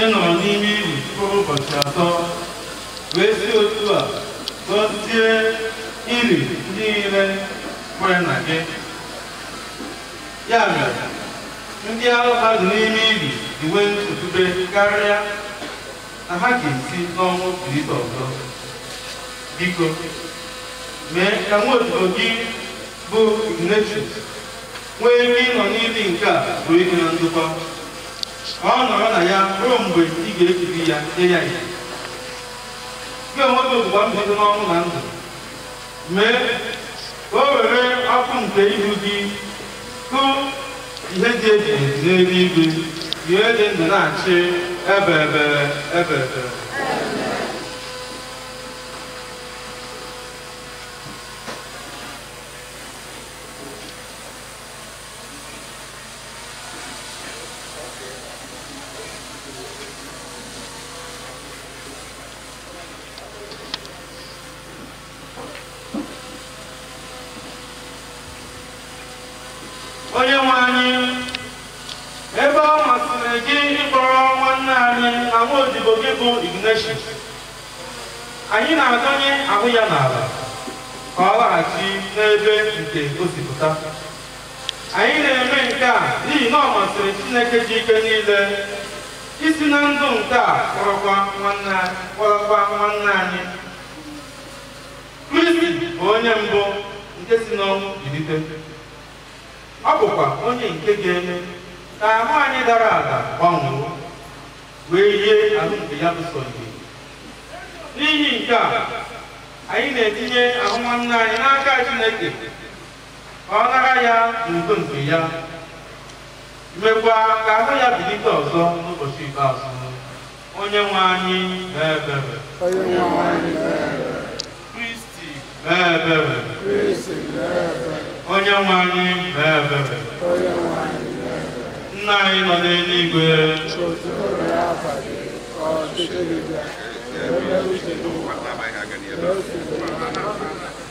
ị nọrọ n'ime ili mkpụrụ ụbọchị atọ wee si otu a gọzie ili ndị niile kwere na gị ya mere ndị ahụ ha dị n'ime ili inwe nchekwube karịa na ha ga-esi n'ọnwụ bilite ọzọ biko mee ka nwa odibo gị bụ Ignatius nwee ike ịnọ n'ili nke a zuo ike na ndokwa ka ọ nọrọ na ya ruo mgbe ị ga-ekuli ya nye ya ihe gị onwe gị bụ mbilite n'ọnwụ na ndụ Mee ka o were ọkụ nke ihu gị hụ ihe ebighị ebi n'eluigwe onye dị ndụ na-achị ebebe ebebe onye nwe anyị ebe ọ masịrị gị ịkpọrọ nwanna anyị na nwa odibo gị bụ Ignatius anyị na-adọnye ahụ ya n'ala ka ọ laghachi n'ebe nke o si pụta anyị na-eme nke a n'ihi na ọ masịrị Chineke ji ike niile isi na ndụ nke a kpọrọkwa nwanna anyị kristi bụ onye mbụ nke si n'ọnwụ bilite ọ bụkwa onye nke ga-eme ka ahụ anyị dara ada gbanwee wee yie ahụ nke ya bụ sọ ihe n'ihi nke a anyị na-etinye ahụ nwanna anyị n'aka chineke ka ọ nara ya n'udo nke ya mekwa ka ahụ ya bilite ọzọ n'ụbọchị ikpeazụ onye nwe anyị mee ebere kristi mee ebere onye nwe anyị mee ebere nna anyị nọ n'eluigwe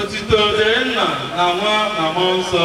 otito dịrị nna na nwa na mmụọ nsọ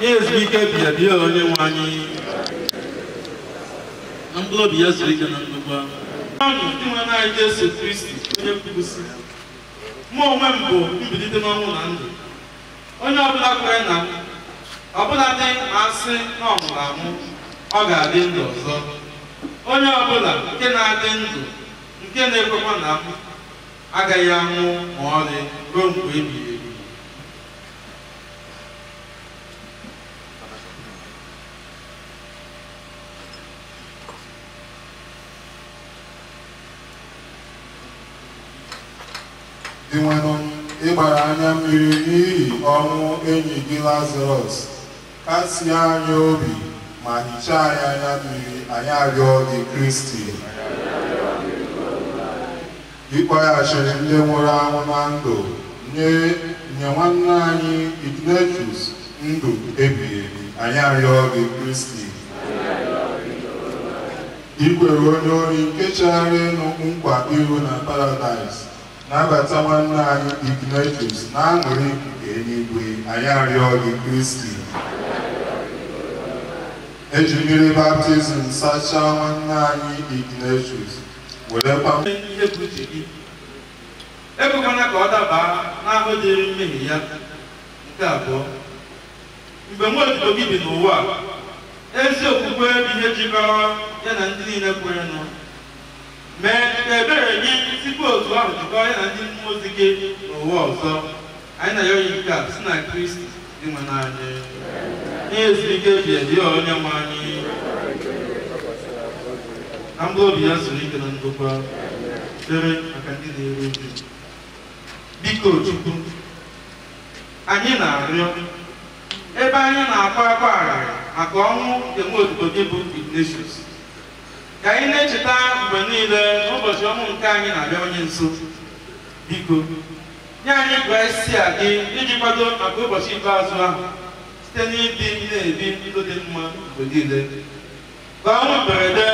ya ezumike ebighị ebi o onye nwe anyị ka mkpụrụ obi ya zuru ike na ndokwa dinwenụ anyị Jesu Kristi onye kwuru sị mụ onwe m bụ mbilite n'ọnwụ na ndụ onye ọbụla kwere na m ọbụladị ma asị na ọ nwụrụ anwụ ọ ga-adị ndụ ọzọ onye ọbụla nke na-adị ndụ nke na-ekwekwa na m agaghị anwụ ma ọlị ruo mgbe ebighị ebi dinwenụ ị gbara anya mmiri n'ihi ọnwụ enyi gị lazarọs kasie anyị obi ma hichaa anyị anya mmiri anyị arịọ gị kristi Ị kpọghachiri ndị nwụrụ anwụ na ndụ nye nye nwanne anyị Ignatius ndụ ebighị ebi, anyị arịọ gị Kristi. I kwere onye ori nke chegharịrịnụ nkwa iru na paradaịs nabata nwanne anyị Ignatius n'aṅụrị nke eluigwe, anyị arịọ gị Kristi. E ji mmiri baptizim sachaa nwanne anyị Ignatius werekwa ihe bụ uche gị ekwekwana ka ọ dabaa n'ahụhụ dịrị mmehie ya nke abụọ mgbe nwa odibo gị bi n'ụwa ezi okwukwe bụ ihe jikọrọ ya na ndị niile kwerenụ mee ka ebere gị sikwa otu ahụ jikọọ ya na ndị mmụọ ozi gị n'ụwa ọzọ Anyị na-ayọ gị nke a si na Kristi Dinwenụ anyị. Nye ya ezumike ebeebe o onye nwe anyị. Ka mkpụrụ obi ya zuru ike na ndokwa. Ekpere maka ndị na-eru uju. Biko Chukwu, anyị na-arịọ ebe anyị na-akwa akwa arịrị maka ọnwụ nke nwa odibo gị bụ Ignatius. Ka anyị na-echeta mgbe niile na ụbọchị ọnwụ nke anyị na-abịawanye nso. Biko, Nye anyị grasịa gị iji kwado maka ụbọchị ikpeazụ ahụ site n'ịdị na-ebi ndụ dị mma mgbe niile. Ka ọnwụ mberede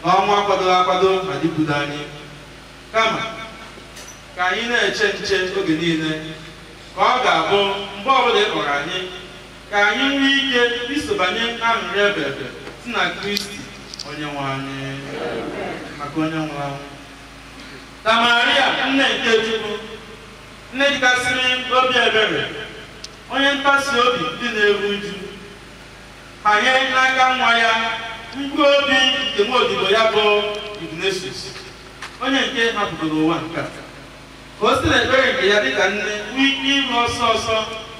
na ọnwụ akwadoghị akwado ghara ikwudo anyị. Kama, ka anyị na-eche nche oge niile ka ọ ga-abụ mgbe ọbụla ị kpọrọ anyị ka anyị nwee ike isobanye aṅụrị ebeebe si na Kristi onye nwe anyị maka onye nwụrụ anwụ Ka Maria nne nke Chukwu, nne dịkasịrị obi ebere, onye ntasi obi ndị na-eru uju, hanye n'aka nwa ya mkpụrụ obi nke nwa odibo ya bụ Ignatius, onye nke hapụgoro ụwa nke a, ka o si n'ekpere nke ya dịka nne nwee ike iru ọsọ ọsọ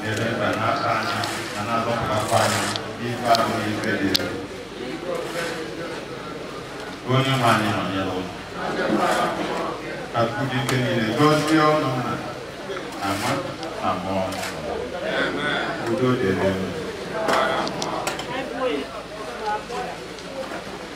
na-eme ka na-ata anyị na na-azọpụtakwa anyị n'ife ahụ na ife dị elu. onye nwe anyị nọnyere unu ka Chukwu ji ike niile gọzie unu nna na nwa na mmụọ nsọ. udo dịrị unu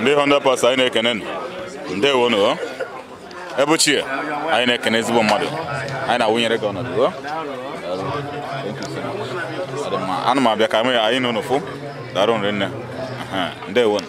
ndị 100 percent anyị na-ekene ndewo nụ ebe ochie anyị na-ekene ezigbo mmadụ anyị na-awụnyere gị ọnọdụ o? Daalụ. Thank you so much. Ọ dị mma. ana m abịa ka anyị anyị na unu fụ daalụ rinne Aha, ndewo nụ.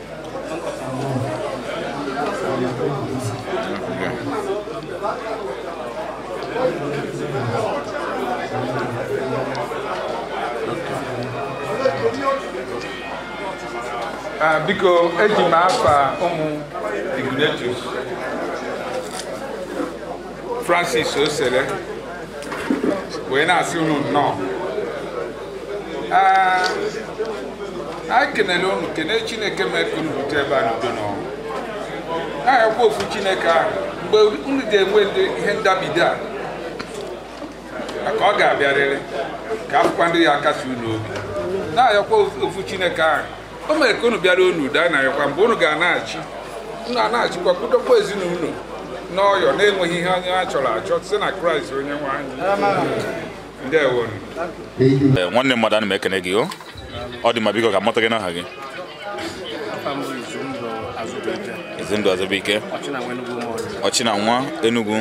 Ah, biko eji m afa ụmụ Ignatius Francis Osele wee na-asị unu nnọọ Ah, anyị kenele unu kene chineke mee ka unu bute ebe a n'udo na ọṅụ na-ayọkwa ofu chineke ahụ mgbe unu ga-enwe ihe ndabido a maka ọ ga-abịarịrị ka a fụkwa ndị ya akasi unu obi na-ayọkwa ofu chineke ahụ o mere ka unu bịaruo n'udo na-ayọkwa mgbe unu ga-anachi unu anachikwa kwudokwa ezinụlọ n'ọyọ na-enweghị ihe a chọrọ achọ si na kraịst onye nwe anyị Eh, nwanne mmadụ ana m ekene gị o ọ dị mma biko ka m mata gị n'aha gị Ezindụ Azụbụike ọchị na nwa Enugu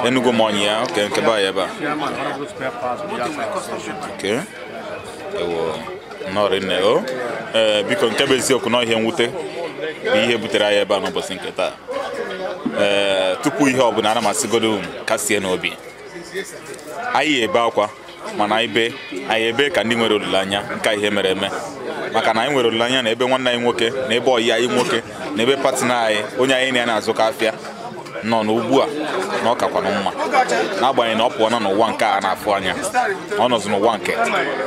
Enugu Ụmụọnyịa okay nke be anyị ebe a okay ewo nnọọ rinne o ee eh, biko nke bụ eziokwu na ihe mwute bụ ihe butere anyị ebe a n'ụbọsị nke taa ee eh, tupu ihe ọ bụla ana m asịgodu kasienụ obi anyị ebe akwa mana anyị ebe ka ndị nwere olileanya nke ihe mere eme maka na anyị nwere olileanya na ebe nwanne anyị nwoke na ebe ọyị anyị nwoke na ebe partner anyị onye anyị na ya na-azụkọ afịa nọ n'ugbu a na ọ kakwana mma n'agbanyeghị na ọ pụọna n'ụwa nke a na-afụ anya ọ nọzi n'ụwa nke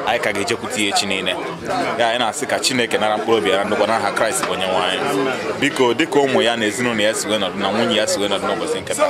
anyị ka ga-ejekwute ya echi niile ya anyị na-asị ka chineke nara mkpụrụ obi ya ndokwa n'aha kraịst bụ onye nwe anyị biko dịka ụmụ ya na ezinụlọ ya si wee nọdụ na nwunye ya si wee nọdụ n'ụbọsị nke taa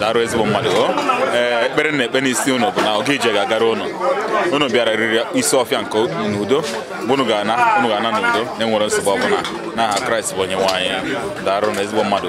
daarụ ezigbo mmadụ ee ekpere m na-ekpe n'isi ụnụ bụ na oge ije ga-agara ụnụ ụnụ bịara riri isi ọfịa nke n'udo mgbe ụnụ ga-ana ụnụ ga-ana n'udo na-enwerọ nsogbu ọbụla n'aha kraịst bụ onye nwe anyị daarụ nụ ezigbo mmadụ